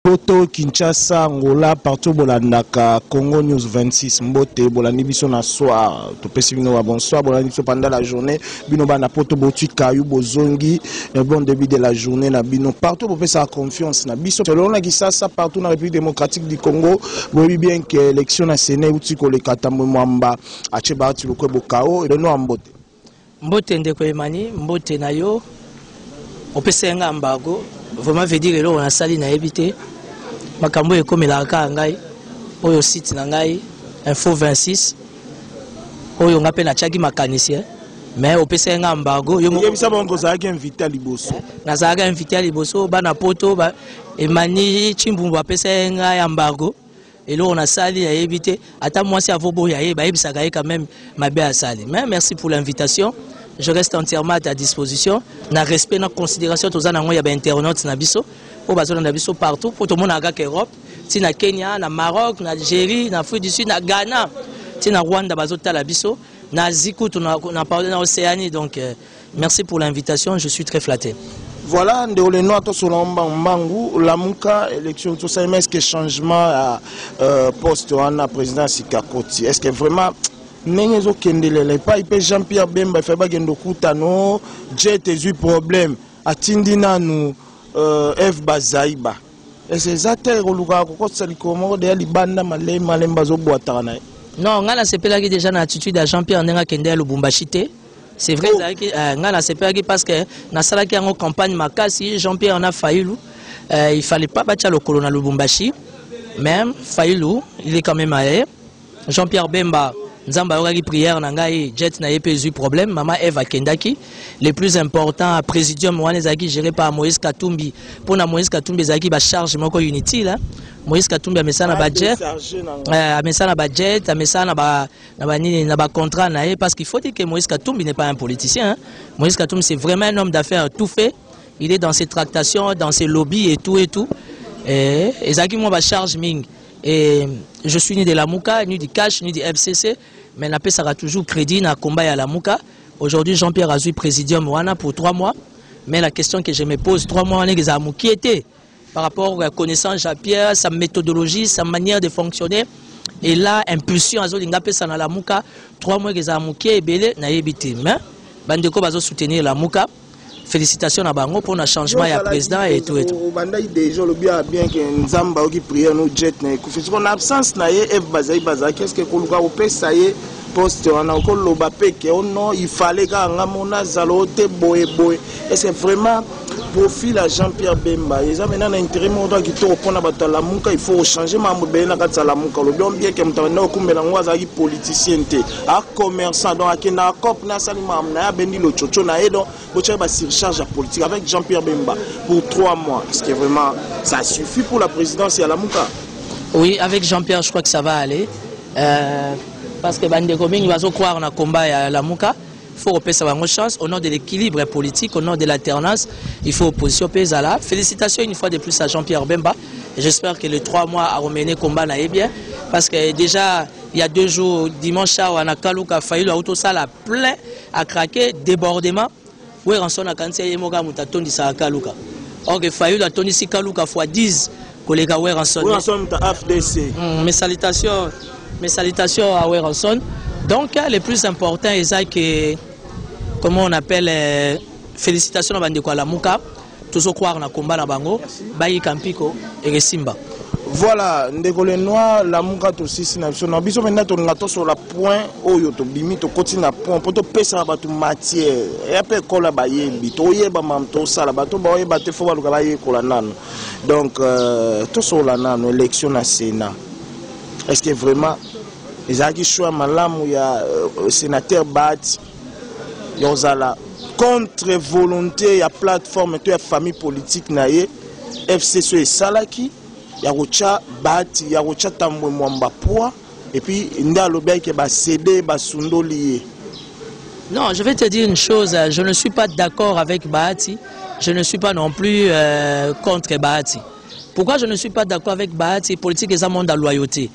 Poto, Kinshasa, Angola, partout bolandaka Congo News 26. Mbote bolandi biso na soir. Topesi bino ba bonsoir, bolandi biso pendant la journée. Bino bana poto botui kayu bozongi. Eh, bon début de la journée na bino. Partout bopesa confiance na biso. Selon na Kisasa partout na République démocratique du Congo, boyebi bien que élection na Sénat uti koleka tambo mwamba. Ache baati lokwe bokao. Beno ambote. Mbote ndeko Emani, mbote na yo. Opesaki ngai ambago, vraiment veut dire eloko nasali nayebi te. Makambo oyo ekomelaka kaka ngai, oyo site na ngai info 26 oyo ngai mpe natyaki makanisi eh. mais opesaki ngai ambago yebisa bango ozalaki invité ya liboso nazalaki invité ya liboso bana poto ba, emani chimbumbu apesaki ngai ambago eloko nasali nayebi te ata mwasi avoboya ye bayebisaka ye quand même mabe asali mais merci pour l'invitation je reste entièrement à ta disposition na respect na considération toza nango ya bainternaute na biso oyo bazolanda biso partout mpo tomonaka kaka europe ti na kenya na maroc na algérie na afrique du sud na ghana ti na rwanda bazotala biso na asie kutu na, na, na, na océanie donc euh, Merci pour l'invitation, je suis très flatté. Voilà, ndeko le noir tosola mbangu mbangu lamuka élection tosala mais est-ce que changement ya euh, poste wana président sika koti est-ce que vraiment ndenge ezokendelela epai mpe jean pierre bemba efai bakende okutano jet ezwi problème atindi nanu euh, eve bazaiba ese eza te kolukaka kokotisa likolo moko deya libanda malei malemba azobwataka na ye non ngai nasepelaki déjà na attitude ya jean pierre ndenge akende ya lubumbashi te C'est vrai, ezalaki euh, ngai nasepelaki parce que nasalaki yango campagne makasi Jean Pierre na Fayulu euh, il fallait pas batya lokolo na Lubumbashi mais Fayulu il est quand même allé Jean Pierre Bemba nzambe ayokaki prière na ngai jet na ye mpe ezwi problème mama eve akendaki le plus important à présidium wana ezalaki géré par moïse katumbi mpo na moïse katumbi ezalaki bacharge moko inutile moïse katumbi amesana bajet amesana bajet amesana ba na banini na ba contrat na ye parce qu'il faut dire que Moïse Katumbi n'est pas un politicien hein. Moïse Katumbi c'est vraiment un homme d'affaires tout fait il est dans ses tractations dans ses lobbies et tout et tout et ezalaki mwa ba charge mingi et je suis ni de la Mouka ni du Cash ni du FCC mais napesaka toujours crédit na combat ya la Mouka aujourd'hui Jean-Pierre azui présidium wana pour trois mois mais la question que je me pose trois mois wana ezala mokie te par rapport à la connaissance à Pierre, sa méthodologie, sa manière de fonctionner. Et là, impulsion, azo linga pesa na la muka, trois mois que ça muké belé na yebité. Mais bandeko bazo soutenir la muka. Félicitations à bango pour un changement ya président et tout et tout. Bandai déjà le bien bien que Nzamba qui prière nous jet na kufi. Son absence na ye Eve Bazai Bazai qu'est-ce que koluka opesa ye poste wana okoloba mpe ke o oh non ifale kaka nga mo nazala o te boye boye ece vraiment profil ya jean pierre bemba eza mena na intérêt moko kaka kitoko mpona bato ya lamuka il faut ochange makambo ebele na kati ya lamuka olobi on bien ke moto abanda kokumbela yango azalaki politicien te a commerçant donc akendaka cop na asali makambo na ye abendi lococo na ye donc botyaki basurcharge ya politique avec jean pierre bemba pour trois mois est ce que vraiment ça suffit pour la présidence ya lamuka oui avec jean pierre je crois que ça va aller Euh, parce que bandeko mingi bazo croire na combat ya Lamuka faut repesa bango chance au nom de l'équilibre politique au nom de l'alternance il faut opposition pe ezala félicitations une fois de plus à Jean-Pierre Bemba j'espère que les trois mois à remener combat na ye bien parce que déjà il y a deux jours dimanche awa na Kaluka Fayulu auto sala plein à craquer débordement Werrason akanisi ye moko mutu atondisaka kaluka or que fayulu atondisi kaluka fois 10 koleka werrason werrason mutu afdc mm, mes salutations mes salutations à werrason donc le plus important eza que comment on appelle euh, félicitations na bandeko ya lamuka tozo croire na combat na bango bayika mpiko ekesimba voilà ndeko le noir lamuka tosisi na biso na biso mpenza tolinga tosola point oyo tobimi tokoti na point mpo topesaka bato matière ya mpe ekola bayebi toyeba mam tosala bato baoyeba te fo baluka bayekola nano donc euh, tosola nano élection na sénat est ce que vraiment ezalaki choix malamu ya euh, sénateur bat ya kozala contre volonté ya plateforme to ya famille politique na ye fcc oyo esalaki ya kotya bahati ya kotya tambwe mwamba poids epuis nde alobaki ke basede basundoli ye Non, je vais te dire une chose, je ne suis pas d'accord avec Bahati, je ne suis pas non plus euh, contre Bahati. Pourquoi je ne suis pas d'accord avec Bahati Politique et ça monde à loyauté.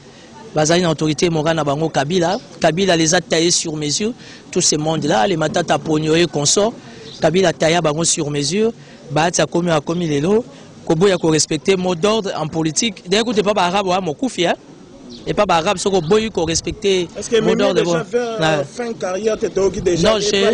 bazali na autorité morale na bango kabila kabila les a taillé sur mesure tout ce monde là les matata ponio et consort kabila taya bango sur mesure bahati akomi akomi lelo koboya korespecte mot d'ordre en politique deye kutu epa baarabe oya mokufi e epa baarabe soki oboyi korespecte mot d'ordre non je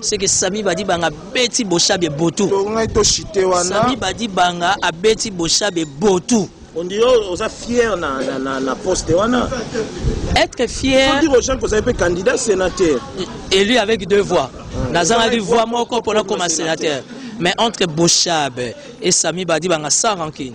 seke sami badi banga abeti boshabe botu tongai to chite wana sami badi banga abeti boshabe botu ondi yo oza fier na, na, na, na poste wana être fier faut dire aux gens que vous avez été candidat sénateur élu avec deux voix ah. nazangaki voix moko mpona koma sénateur mais entre boshab et sami badi banga sans rancune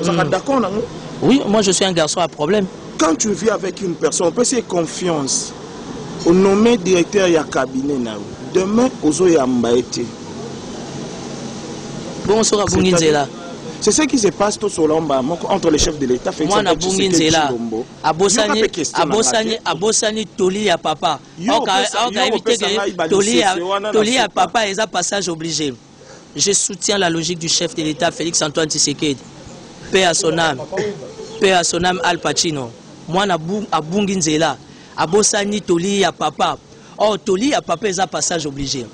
ozalaka hmm. d'accord nango oui moi je suis un garçon à problème quand tu vis avec une personne opesi confiance onomme directeur ya cabinet na yo demain ozoyamba ye te bongo soki abungi nzela c'est ce qui se passe tout solomba moko entre les chefs de l'état mwana abungi nzela abosani abosani abosani toli ya papa okayebi te toli ya papa eza passage obligé Je soutiens la logique du chef de l'État Félix Antoine Tshisekedi. Paix à son âme. Paix à son âme Al Pacino. Mwana abungi nzela. Abosani toli ya papa. Oh, toli ya papa eza passage obligé.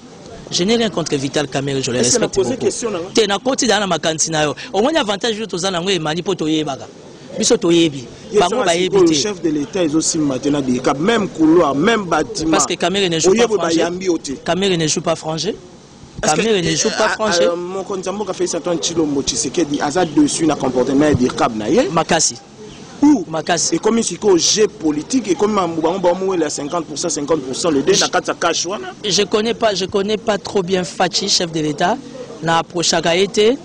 Je n'ai rien contre Vital Kamerhe, je le respecte beaucoup. Te na koti dana makanisi na yo. Omoni avantage yo toza nango emani po toyebaka. biso toyebi bango bayebi te chef de l'état ezosimba te na bilika même couloir même bâtiment parce que Kamerhe ne joue pas français Kamerhe ne joue pas français Kamere ne joue pas eh, français. Euh, Mokonzi ya mboka Felix Antoine Tshilombo Tshisekedi aza dessus na comportement ya Dirkab na ye. Makasi. ou makasi ekomi sikoyo jeu politique ekomi mambo bango bamowela 50 50 le de na kati ya cash wana je connais pas je connais pas trop bien fachi chef de l'état na approchaka ye te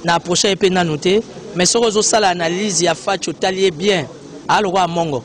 na approcha ye mpe nanu te mais soki ozosala analyse ya fachi otali ye bien alokola mongo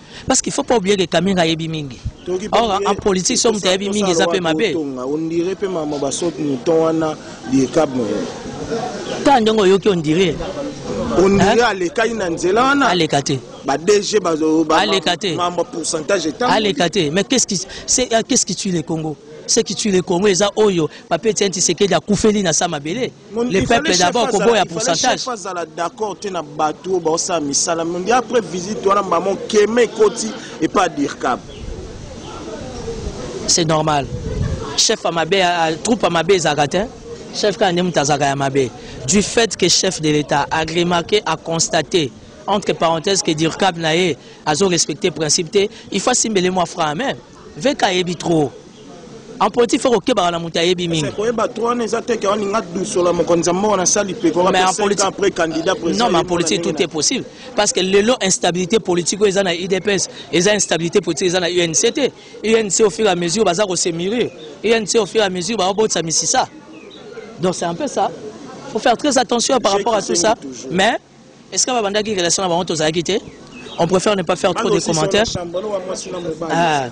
parce qu'il faut pas oublier que Kamera ayebi mingi or en politique soki moto ayebi mingi eza mpe mabe ondire mpe mama basoki moton wana liekab ta ndenge oyoki ondire ondire alekaki na nzela wana aleka te ba DG bazo ba aleka te mambo pourcentage etant aleka te mais qu'est-ce qui c'est euh, qu'est-ce qui tue le Congo ce qui tue le Congo eza oyo papier tienti sekedi akufeli na sa mabele le peuple d'abord koboya pourcentage azala d'accord te na bato oyo baosala misala mondi après visite wana mama okeme ekoti epa dirkab c'est normal chef ya mabe troupe ya mabe ezalaka te chef kaka nde moto azalaka ya mabe du fait que chef de l'état a remarqué a constaté entre parenthèses que dirkab na ye azo respecte principe te il faut asimbele mwa franc même VK ayebi trop. En politique faut kokebaka na moto ayebi mingi. Koyeba trop wana eza te kawa ninga dusola mokonzi ya mboka na sali pe ko mais en politique après candidat président. Non mais en politique tout est possible parce que lelo instabilité politique oyo eza na UDPS, eza instabilité politique eza na UNC te. UNC au fur et à mesure baza ko se mûrir. UNC au fur et à mesure ba obotsa misisa. Donc c'est un peu ça. Faut faire très attention par rapport à tout ça. Mais Est-ce que babandaki relation na bango tozalaki te? On préfère ne pas faire trop de commentaires. Ah.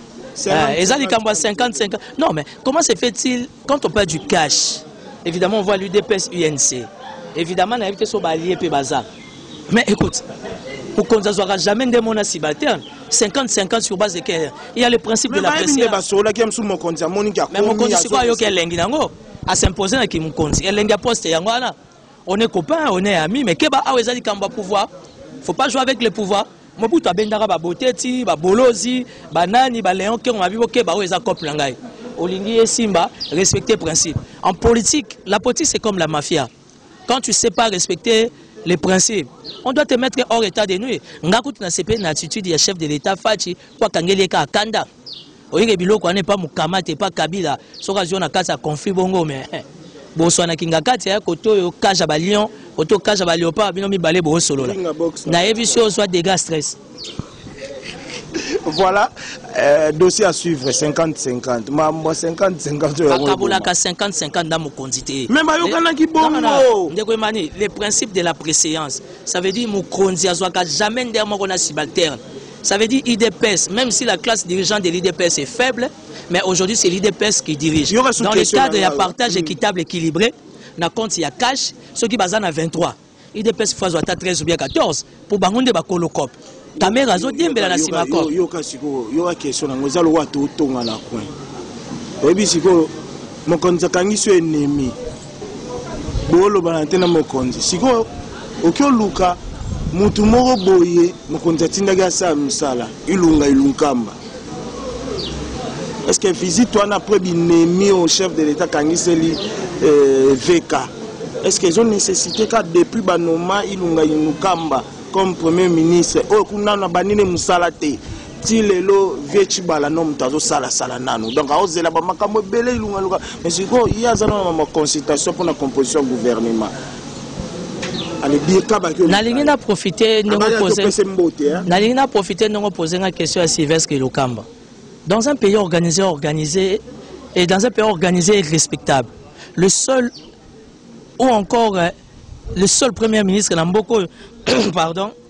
Ah, eza likambo ya 50 50 non mais comment se fait-il quand on parle du cash évidemment on voit l'udps unc évidemment nayebi te so balie mpe baza mais écoute mokonzi azwaka jamais nde mona subalterne 50-50 sur base de quel il y a le principe de la pressebasolaki ya mosusu mokonzi amoniki mais mokonzi sikoyo ayoki elengi nango asimpoze na kimokonzi elengi ya poste yango wana On est copain, on est ami, mais keba awa ezali kamba pouvoir. Faut pas jouer avec le pouvoir. Mobutu abendaka ba boteti, ba bolozi, ba nani, ba Léon Kengo mabibo keba oyo eza cop na ngai. Olingi esimba, respecter principe. En politique, la politique c'est comme la mafia. Quand tu sais pas respecter les principes, on doit te mettre hors état de nuit. Ngakutu na CP na attitude ya chef de l'État Fachi, kwa kangeli ka kanda. oyeke biloko wana epa mokamate epa kabila soki azwi na kati ya conflit bongo me eh, boswana kingakati aya kote oyo cage ya balion kote oyo cage ya baleopard bino mibale boosolola nayebisi ozwa dega stress voilà euh, dossier à suivre 50-50 mambo 50-50 bakabolaka 50-50 na mokonzi te me bayokanaki bongo ndeko emani le principe de la préséance ça veut dire mokonzi azwaka jamais ndere moko na subalterne Ça veut dire IDPS, même si la classe dirigeante de l'IDPS est faible, mais aujourd'hui c'est l'IDPS qui dirige. Dans le cadre d'un partage équitable, équilibré, na compte ya cash, ceux qui basent à 23. IDPS fois 13 ou bien 14, pour Bangonde Bakolokop. Kamera azodiembela na nsima ko yoka sikoyo yoka question nango eza lokola totonga na coin oyebi sikoyo mokonzi akangi so enemi bolobana te na mokonzi sikoyo oki oluka motu moko boye mokonzi atindaki asala mosala ilunga ilunkamba estce visite wana après binemi au chef de l'état kangiseli euh, vk est ce que ezo nécessité ka depuis banoma ilunga ilukamba comme premier ministre oyo kuna na banini mosala te ti lelo vie tshibala no moto azosalasala nanu donc aozela bamakambo ebele ilungaluka mais sikoyo ye aza nano na baconsultation mpona composition gouvernement nalingi na profite nalingi na profite ndenge opose nga question ya sylvestre lokamba dans un pays organisé organisé et dans un pays organisé et respectable le seul ou encore euh, le seul premier ministre na mboka oyo pardon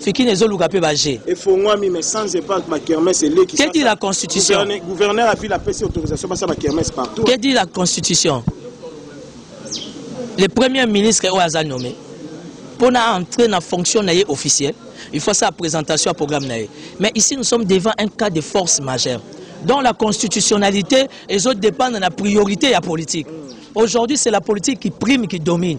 Fikine ezoluka pe ba jeu. Efongwami mais sans impact ba kermesse eleki. Que dit la constitution? Gouverneur, gouverneur a ville apesi autorisation basa ba kermesse partout. Que dit la constitution? Le premier ministre oyo aza nommé pour na entrer na fonction na ye officielle, il faut sa présentation à programme na ye. Mais ici nous sommes devant un cas de force majeure dont la constitutionnalité ezo dépendre na priorité ya politique. Aujourd'hui c'est la politique qui prime qui domine.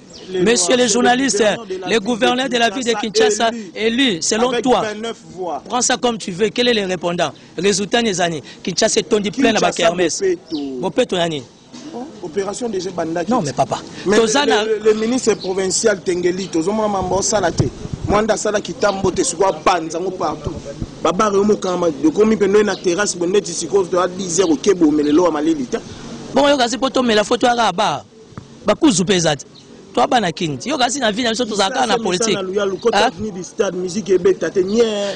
Monsieur le journaliste, le gouverneur de la ville de Kinshasa élu, selon toi, prends ça comme tu veux, quel est le répondant Résultat des années, Kinshasa est tondi plein à Kermesse. Bopeto Nani opération déjà bandaki non mais papa mais tozana le, le, le ministre provincial tengeli tozomona mambo osala te mwanda asala kitambo te sikoyo abanza yango partout babare yo mokama ekomi mpe ndoye na terrasse bo neti sikoyo toya 10 heure okebomela elowa malili te bongo yoka si mpo tomela fo toyaka abare bakuzu mpe eza te toi bana king ti yoka si na vie na biso tozala kaka na politique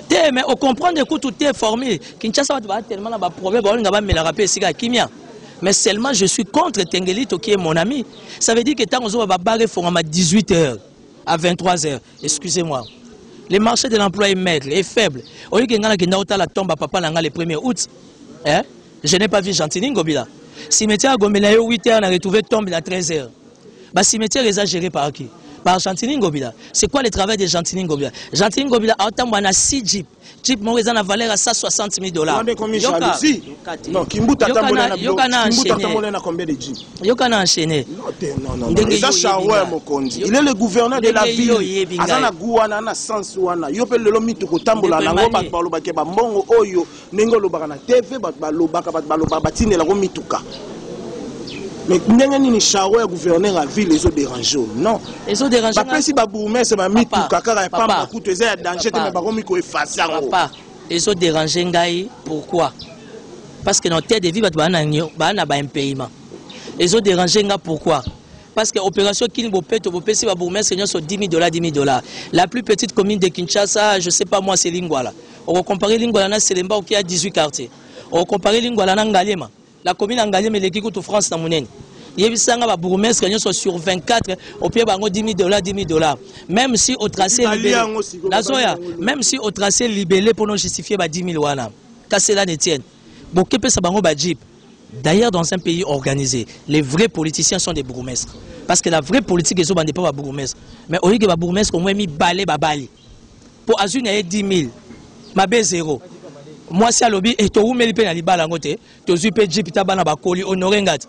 te mais ocomprendre kutu te formule kinshasa bato baa tellement na baproblème baolinga bamelaka mpe esika ya kimia mais seulement je suis contre tengelito qui est mon ami ça veut dire que ntango ozoba babare efongama 18 heures à 23 heures excusez moi le marché de l'emploi est maigre est faible oyoki ngai nakenda otala tomba papa na ngai le 1er août eh? Je n'ai pas vu Gentini Ngobila. Cimetière à Gombe, 8 heures, on a retrouvé tombe à 13 heures. Bah, cimetière est géré par qui Par Gentini Ngobila. C'est quoi le travail de Gentini Ngobila Gentini Ngobila a autant à 6 jeeps. Jeep moko eza na valeur ya 160 000 dollars. Non, Kimbuta tambola na Kimbuta tambola na combien de jeep Yoka na enchaîné. Non, non, non. Eza Shawer Mokonzi. Il est le gouverneur de la ville. Aza na goût wana na sens wana. Yo pe lelo mitu ko tambola na ngo ba baloba ke ba mbongo oyo ndenge olobaka na tv bato balobaka bato balobaka batindela ko mituka mais ndenge nini charo ya gouverneur ya ville ezo dérange o non bapesi babourgmestre bamituka kaka ya pamba kutu eza ya danger te me bakomi koefase yango ezo dérange ngai pourquoi parce que na hotel de vie bato baa na baimpayement ezo dérange ngai pourquoi parce que opération kini bopeto bopesi babourgmestre nyonso 10 000 dollars 10 000 dollars la plus petite commune de kinshasa je sais pas moi selingwala oko comparer lingwala na selemba oki a 18 quartier oko comparer lingwala na ngaliema la commune ya ngaliema eleki kutu france na monene yebisa nga ba bourgmestre nyonso sur 24 opie bango 10 dollars 10 dollars même si au tracé libellé nazoya même si au tracé libellé pour non justifier ba 10 000 wana kasela n'etienne bokepesa bango ba jeep D'ailleurs, dans un pays organisé, les vrais politiciens sont des bourgmestres. Parce que la vraie politique est au pas bourgmestre. Mais au lieu que bourgmestre, au moins, mis balai, babali. mpo azwi na ye 10 000 mabe zero mwasi alobi e, towumeli mpe na libala yango te tozwi mpe jip ta bana bakoli honore ngati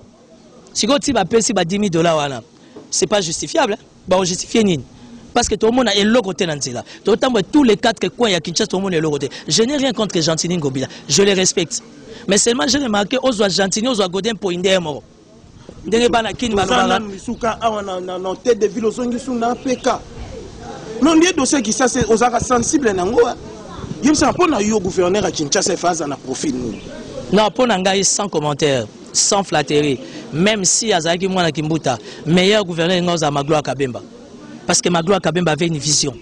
sikoyo ti bapesi ba 10 000 dola wana c'est pas justifiable baojustifie nini parce que tomona eloko te na nzela totambola tous les quatre coins ya kinshasa tomona eloko te je n'ai rien contre gentini ngobila je le respecte mais seulement je remarqué ozwa gentini ozwa godin poinde moko ndenge bana kini balobaka misuka awa na na na tête de ville ozongi su na PK non lieu dossier Kinshasa ozaka sensible nango yebisa mpo na yo gouverneur ya Kinshasa efa aza na profil nini non mpo na ngai sans commentaire sans flatterie même si azalaki mwana kimbuta meilleur gouverneur ngai ozala magloire kabemba parce que magloire kabemba avait une vision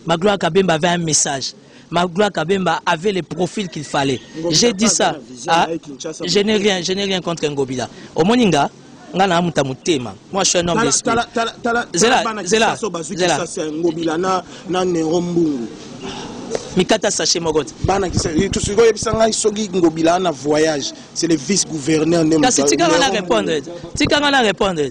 magloire kabemba avait un message Magloire Kabemba avait le profil qu'il fallait. J'ai dit ça. Ah, je n'ai rien, je n'ai rien contre Ngobila. Omoninga, nga na amuta mutema. Moi je suis un homme d'esprit. Zela, zela, zela. Ngobila na na Nero Mbungu. mikata sache moko te bana tosikoki oyebisa ngai soki ngobila na voyage c'est le vice gouverneur nde kasi tika nga na répondre tika nga na répondre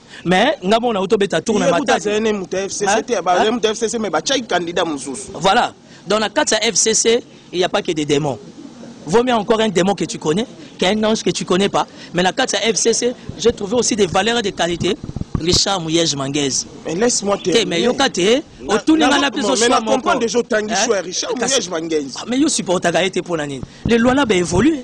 mais nga moko nauti obeta tour na matafcc mais batiaki candidat mosusu voilà donc na kati ya fcc il n'y a pas que des démons vaut mieux encore un démon que tu connais qu'un ange que tu connais pas mais na kati ya fcc j'ai trouvé aussi des valeurs et des qualités richard muyege mangaise mais laisse moi te mais yoka te otuni nga na biso choix moko mais yo supportaka ye te mpo na nini le lualaba évolue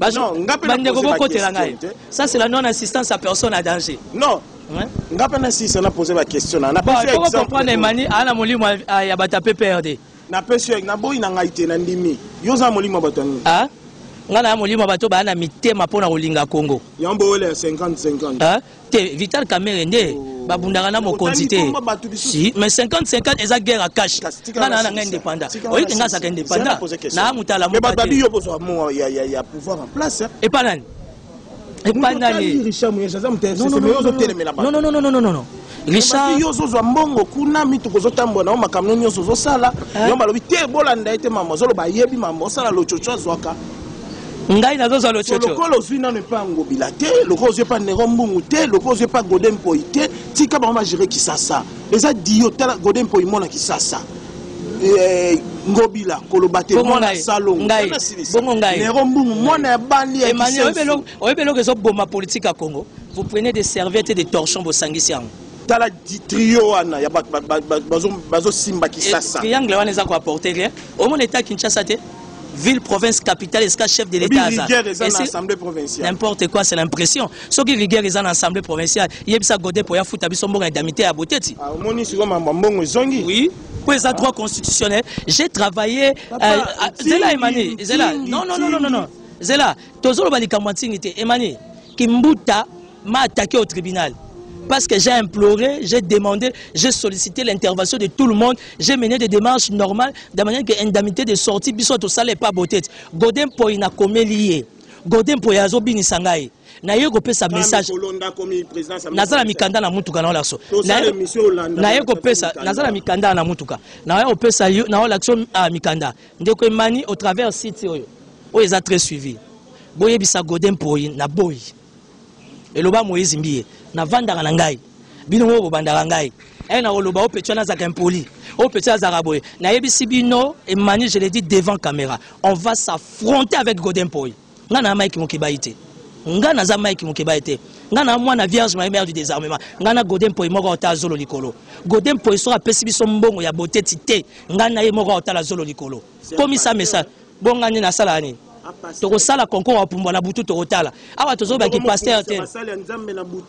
bandeko bokotela ngai ça c'est la non assistance à personne à danger non nga mpe nasisa na pose baquestion na comprendre emani aa na molimo ya bato ya pprd napesi yo naboyi na ngai te nandimi yo oza molimo ya bato ya nini ngai na ya molimo ya bato baya na mitema mpo na kolinga kongo yango bowele ya 50 50 te vital kamere nde oh. babundaka na mokonzi te si mais 50 50 eza guerre ya cash bana na ngai indépendant oyebi te ngai azaka indépendant na motala epa nani epa nani non non non non non richardozozwa mbongo kuna mituka ozotambola nao makambo nyonso ozosala eh? yo balobi te bolanda ye te mama ozoloba ayebi mama osala lococo azwaka ngai nazozwa lococo lokola ozwi nano epa ya ngobila te lokola ozwi epa nero mbungu te lokola ozwi epa gode mpoi te tika bango bagere kisasa eza dio tala gode mpoi mona kisasa eh, ngobila koloba te mwana salongonero mbungu mwana ya bali oyebi eloko ezoboma politike ya congo vous prenez des serviettes et des torchons bosangisi yango tala trio wana ya bazosimba kisasa eh, triangle wana eza koaporte rien omona eta kinshasa te ville province capitale esika chef de l'état aza n'importe quoi c'est l'impression soki rigueur eza na assemblée provinciale yebisa gode po ya futa biso mbongo ya damite ya boteti ah, omoni sikoyo mambo mbongo ezongi oui mpo eza droit constitutionnel j'ai travaillé euh, zela emani zela non non non non non zela tozoloba likambo ya ntingi te emani kimbuta m'a attaqué au tribunal parce que j'ai imploré, j'ai demandé, j'ai sollicité l'intervention de tout le monde, j'ai mené des démarches normales, de manière que l'indemnité de sortie, biso tout ça n'est pas beauté. Godin Poy n'a commis lié. Godin Poy a zobini sangai. naye kopesa message naza na mikanda na motuka na olakso naye kopesa naza na mikanda na motuka naye kopesa yo na olakso ah, mikanda ndeko emani au travers site oyo oyo eza très suivi boyebisa godin poyi na boyi eloba moise mbiye navandaka na ngai bino moko bobandaka ngai e nakoloba o petit wana azalaka impoli o petit azalaka boye nayebisi bino emmanuel je le dis devant caméra on va s'affronter avec godin poi ngai na mike mokebayi te ngai naza mike mokebayi te ngai na mwana vierge maye mare du désarmement ngai na godin poi moko aotala zolo likolo godin poi soki apesi biso mbongo ya boteti te ngai na ye moko aotala zolo likolo komisa message Bon nga nde nasalaka nini? tokosala concours ya pumbwa na butu tokotala awa tozoloba kipastere te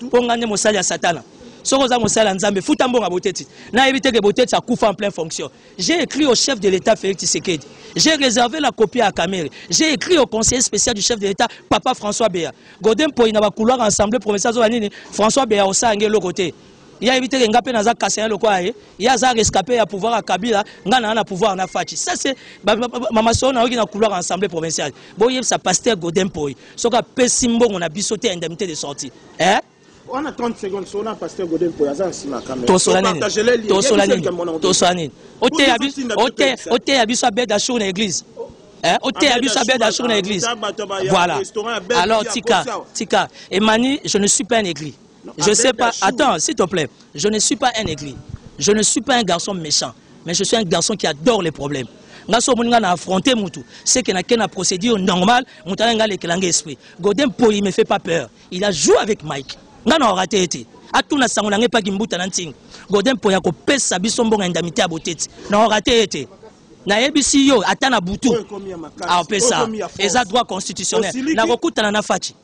mpo ngai nde mosali ya satana soki oza mosali ya nzambe futa mbongo ya boteti nayebi te ke boteti akufa en plein fonction j'ai écrit au chef de l'état félix tshisekedi j'ai réservé la copie à kamere j'ai écrit au conseiller spécial du chef de l'état papa françois bea godin mpoi na bakouloir ensemble provincial azoba nini françois bea osala nge eloko te ye ayebi te ke nga mpe naza kasaye lokola ye ye aza rescape ya pouvoir ya kabila nga naa na pouvoir na faci ça c'est mamasolo nayoki na couloir ya assemblée provinciale boyebisa pasteur godin mpoyi soki apesi mbongo na biso te ya indemnité de sortie eh? wana 30 secondes sona pasteur godel mpo aza nsima ya kamera tosola nini tosola nini tosola nini oteya biso oteya biso abed achour na église Eh, oteya biso abed achour na église voilà alors tika tika emani je ne suis pas un église Je sais pas. Attends, s'il te plaît. Je ne suis pas un aigri. Je ne suis pas un garçon méchant. Mais je suis un garçon qui adore les problèmes. nga so omoni nga na affronte mutu c'est que nake na procédure normale mutu aya nga alekela nga esprit godin poli me fait pas peur il a joué avec mike nga na orate ye te atuna sango na nga epaki mbuta na ntingi godin poli akopesa biso mbonga indemnité ya boteti na orate ye te nayebisi yo ata na butu apesa eza droit constitutionnel nakokutana na faci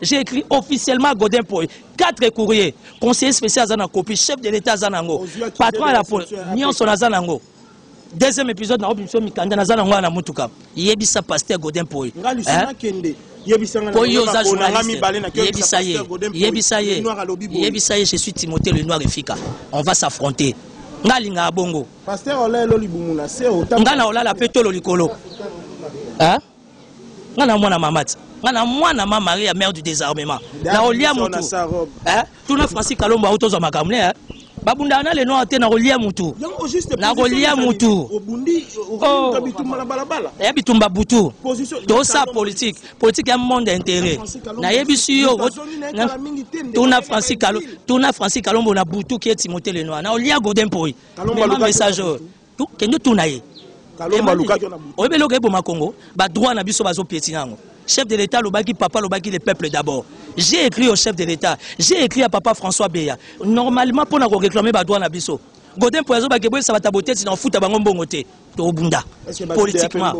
J'ai écrit officiellement à Godin Poy, quatre courriers. Conseiller spécial aza na copie, chef de l'État aza nango, patron ya la police, nyonso naza nango. Deuxième épisode na obi biso mikanda naza nango na mutuka. Yebisa pasteur Godin Poy. Nga lisana hein? kende. Po yo oza journaliste. Yebisa ye. Yebisa ye. Yebisa ye, je suis Timothée le noir efika. On va s'affronter. Nga linga bongo. Pasteur olelo libumu na se otanga. Nga na olala pe tolo likolo. Hein? nga na mwana mama ti nga na mwana ma maria mère du désarmement na olia mutu eh? tuna francis kalombo auti ozwa makambo ne eh? babundaka na leno te na kolia mutu na kolia mutu ya bitumba butu tosa politike politike ya monde intérêt nayebisi yo tuna francis kalombo na butu ki etimote lenoir na olia godin poi message oyo kende tuna ye oyebi eloko eboma congo badroit na biso bazopieti na yango chef de l'état alobaki papa alobaki le peuple d'abord j'ai écrit au chef de l'état j'ai écrit à papa françois beya normalement mpo na koréclame badroit na biso godin mpo azobaki eboyisa bato ya boteti na kofuta bango mbongo te tobunda politiquement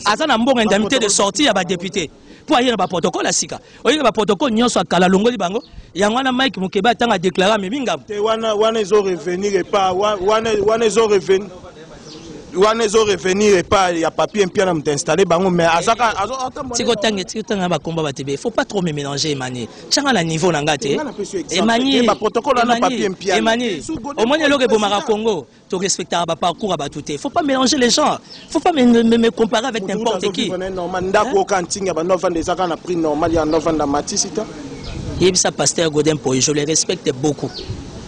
aza na mbongo indemnité de sortie ya badepute mpo aye na baprotokole ya sika oye na baprotokole nyonso ya kala alongoli bango yango wana mike mokebe atanga deklare amemi ngambo te wana wana ezo revenir epa wana wana ezo revenir wana ezo revenir epai ya papier mpia na moto installe bango mais azaka tikotanga tikotanga na bakomba batebe faut pas trop me mélanger emani tyanga na niveau na ngai te emani emani omoni eloko ebomaka congo to respectaka ba parcours ya bato te faut pas mélanger les gens faut pas me, me, me comparer avec n'importe qui ndako oyo kaka ntinga bando avanda eza kaka na prix normal ya ando avanda matisita yebisa pasteur godin poye je le respecte beaucoup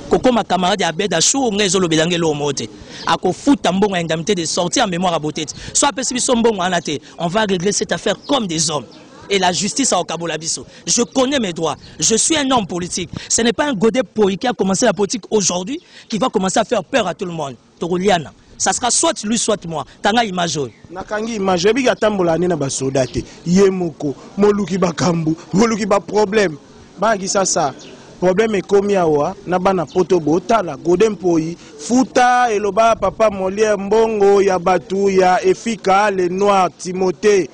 kokoma camarade ya abed ashur ngai ezolobela ngai eloko moko te akofuta mbongo ya indemnité de sortie ya mémoire ya bote te so apesi biso mbongo wana te on va régler cette affaire comme des hommes et la justice à Okabolabiso. Je connais mes droits. Je suis un homme politique. Ce n'est pas un godet qui a commencé la politique aujourd'hui. qui va commencer à faire peur à tout le monde tokoliana ça sera soit lui soit moi kanga image oyo nakangi image oyebi atambola ane na basoda te ye moko moluki bakambu moluki baproblème bayaki sasa problème ekomi awa na bana poto botala gode mpoi futa eloba papa molière mbongo ya bato ya efika le noir timothée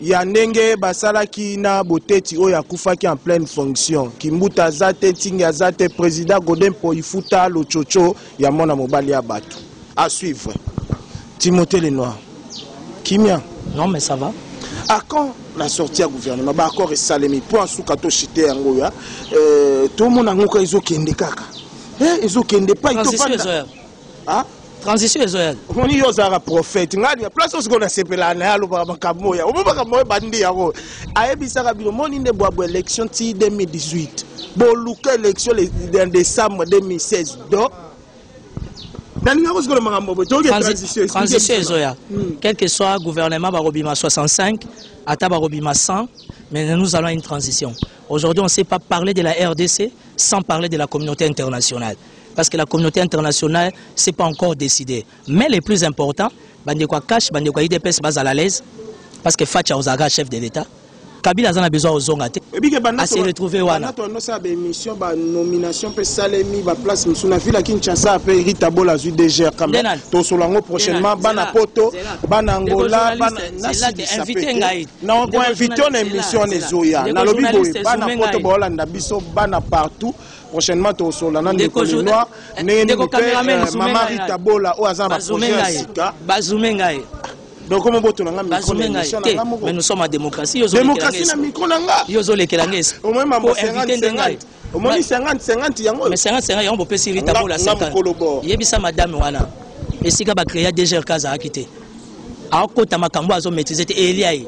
ya ndenge basalaki na boteti oyo akufaki en pleine fonction kimbuta aza te tingi aza te président godin poifuta lococo ya mwana mobali ya bato à suivre timothée lenoir kimia non mais ça va à quand la sortie ya gouvernement baaccord esalemi mpo asuka toshite yango oyo euh, tomona yango ka ezokende kaka eh, ezokende pai ah transition ezo ya omoni yo ozalaka prophète ngai ya place osiko nasepelaka na ye alobaka makambo oyo omo makambo oyo bandi yango ayebisaka bino moni nde bwabwa élection ti 2018 boluka élection na décembre 2016 donc nalinga kozikola makambo boye toyoki transition ezoya hmm. quel que soit gouvernement bakobima 65 ata bakobima 100 mais nous allons à une transition aujourd'hui on ne sait pas parler de la rdc sans parler de la communauté internationale parce que la communauté internationale c'est pas encore décidé mais le plus important bande quoi cash bande quoi idps bas à l'aise parce que Fatya Ozaga chef de l'État Kabila azana besoin ozonga te à se retrouver wana to annoncé ba émission ba nomination pe salemi ba place musu na ville Kinshasa pe Rita Bola zu DGR quand même to solango prochainement bana poto bana Angola bana na invité ngai na ko invité na émission na zoya na lobi boye bana poto ba Hollande biso bana partout prochainement tokosolola na ndeko lenoir eh, ndenge nini mpe eh, mama rita bola oyo aza na baprojet ya sika bazume ngai donc omo boto na nga mais nous sommes en démocratie démocratie na micro na nga yo ozolekela nga esi omoi mambo 50 omoni 50 50 yango mais 50 50 yango bopesi rita bola santa yebisa madame wana esika bacrea dgrk azalaki te akota makambo azomaîtrise te elia ye